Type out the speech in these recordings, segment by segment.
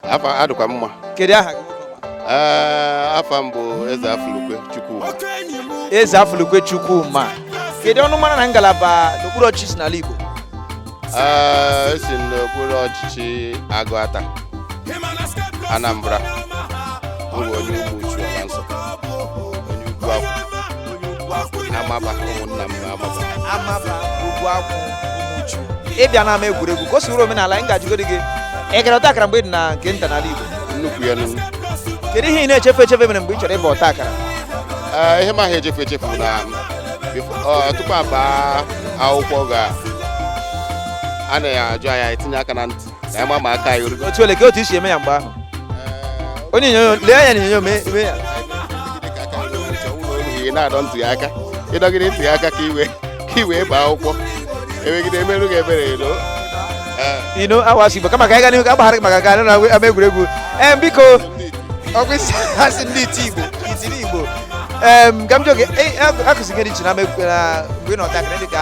afa adịkwa mma kedu aha gị afa m bụ eze afụlukwe chukwuma eze afụlukwe chukwuma kedu ọnụmara na ngalaba n'okpuru ọchịchị i si n'ala igbo esi m n'okpuru ọchịchị agụata anambra bụ onye ụmụchu alansọ onye ugwu akwụ amaba ụmụnna m amaba amaba ugwu akwụ ụmụchu ị bịa n'ama egwuregwu ka o si wụrụ omenala anyị ga-ajụgodi gị ị gara ọta akara mgbe ị dị na nke nta n'ala Igbo nnukwu ya n'ugwu kedu ihe ị na-echefu echefu mere mgbe ị chọrọ ịba ọta akara Ee, ihe m ma echefu echefu na befo- ọ, tupu a baa akwụkwọ ga a na-ajụ anyị anyị tinye aka na ntị ka anyị ma ma aka anyị orugo otu ole ka otu e si eme ya mgbe ahụ onye onyonyo lee anya n'onyonyo mee mee ya ị na-adọ ntị gị aka ịdọgide ntị gị aka ka i wee ka i wee baa akwụkwọ emegide emerụ gị ebere elo you know awụghị igbo kama ka anyị gaa n'ihu ka a gbaghara gị maka ka anyị na-agwa ama egwuregwu em biko ọkwa isi asị ndị iti igbo itiri igbo em ka m jụọ gị akụzi gị dị iche n'ama egwu na mgbe ị nọ ntakịrị dị ka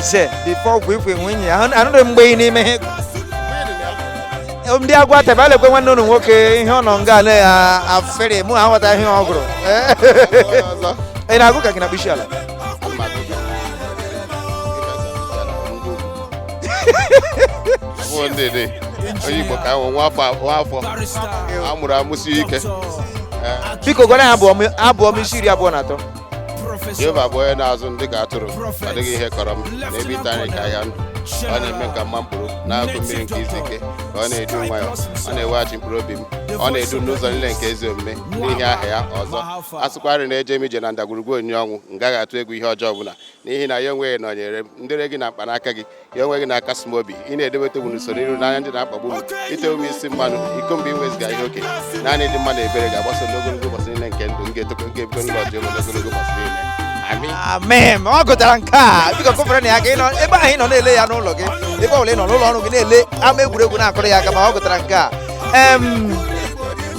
se bifo ọgwụ ikwe nwunye ya Ahụ- anụrụ m mgbe ị na-eme ihe ndị agụata ebe a lekwe nwanne unu nwoke ihe ọ nọ nga na ya afere mụ aghọta ihe ọ gụrụ ị na-agụ ka gị na bisi ala Abụọ ndị dị. Onye Igbo ka ahụ nwa afọ nwa afọ a mụrụ amụsi ike. biko gụọra ya abụ ọma abụ ọma isi iri abụọ na atọ jehova bụ onye na-azụ m dị ka atụrụ ọ dịghị ihe kọrọ m n'ebe ịta nri ka ahịhịa ndụ ọ na-eme ka m makpuru n'akụkụ mmiri nke izu ike ka ọ na-edu m nwayọ ọ na-eweghachi mkpụrụ obi m ọ na-edu m n'ụzọ niile nke ezi omume n'ihi aha ya ọzọ a sịkwarị na eje m ije na ndagwurugwu onyinyo ọnwụ m gaghị atụ egwu ihe ọjọọ ọbụla n'ihi na ya onwe gị nọnyere m ndele gị na mkpanaka gị ya onwe gị na-akasi m obi ị na-edobe tebụl n'usoro iru n'anya ndị na-akpagbu m i tewo m isi mmanụ iko m bụ inwebiga ihe oke naanị ịdị mma na ebere ga-agbaso m ogologo ụbọchị niile nke ndụ m ga-etokọ nke ebigo n'ụlọ jehova n'ogologo ụbọchị niile amị amen ọ gụtara nke a biko kụfere nụ ya aka ị nọ ebe ahụ ị nọ na-ele ya n'ụlọ gị ebe ọbụla ị nọ n'ụlọ ọrụ gị na-ele ama egwuregwu na-akụrụ ya aka ma ọ gụtara nke a em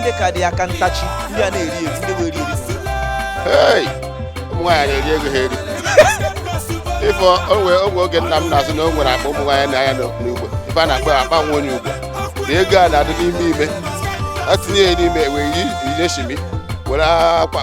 ndị ka dị aka ntachi ndị a na-eri eri ndị wee eri eri Hey! ụmụ nwaanyị na-eri ego ha eri ife onwe ogwe oge nna m na-asị na o nwere akpa ụmụ nwaanyị na-anya n'ugbo ife a na-akpọ akpa nwa onye ugbo na ego a na-adị n'ime ime a tinye ya n'ime wee yi yie shimi were akwa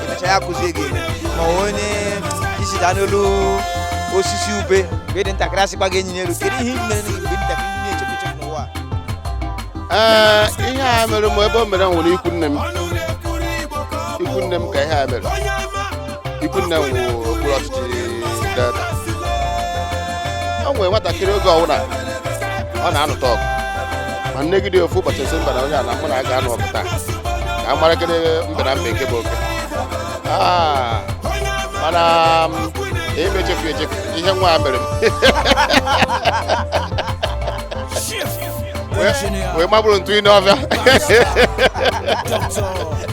emecha ya kụzie gị ma onye isi daa n'elu osisi ube mgbe ị dị ntakịrị asịkwa gị enyina elu kedu ihe ị mere mgbe ị dị ntakịrị ị na-echefu echefu n'ụwa ee ihe a mere m ebe o mere m nwere ikwu nne m ikwu nne m ka ihe a mere ikwu nne m wụ okpuru ọchịchị delta o nwere nwatakịrị oge ọwụna ọ na-anụta ọgụ ma nnegide ofu ụbọchị m sị mba na onye a na mụ na ya ga-anụ ọgụ taa ka a mara gịnị mbe na mbe nke bụ oke Ah, mana m, ebe echefu echefu ihe nwa a mere m Wee- wee mabụrụ ntu ine ọbịa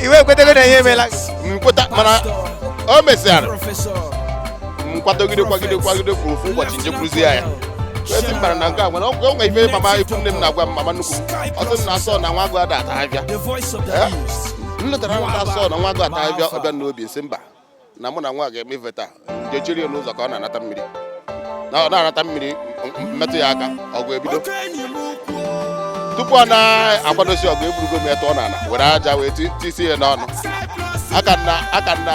iwe ekwetego na ihe emela m kweta mana o mesịara m kwadogide kwagide kwagide kwuru ofu ụbọchị njekwuruzie ya wee sị mba na nke a nwere ọgwụ o nwe ife mama ikwu nne m na-agwa m mama nnukwu m ọ sị m na asọ na nwa agụ ada ata abịa The voice of the Eh? youth. m lotara na asọ na nwa agụ ata abịa ọ bịa n'obi sị mba na mụ na nwa ga-eme ife taa njechiri ya n'ụzọ ka ọ na-anata mmiri na ọ na-anata mmiri m- m- mmetụ ya aka ọgụ ebido Oke enyi m ukwu. tupu ọ na-akwadosi ọgụ eburugo m ya tụọ n'ala were aja wee ti- tisie ya n'ọnụ Cyprus. aka na aka na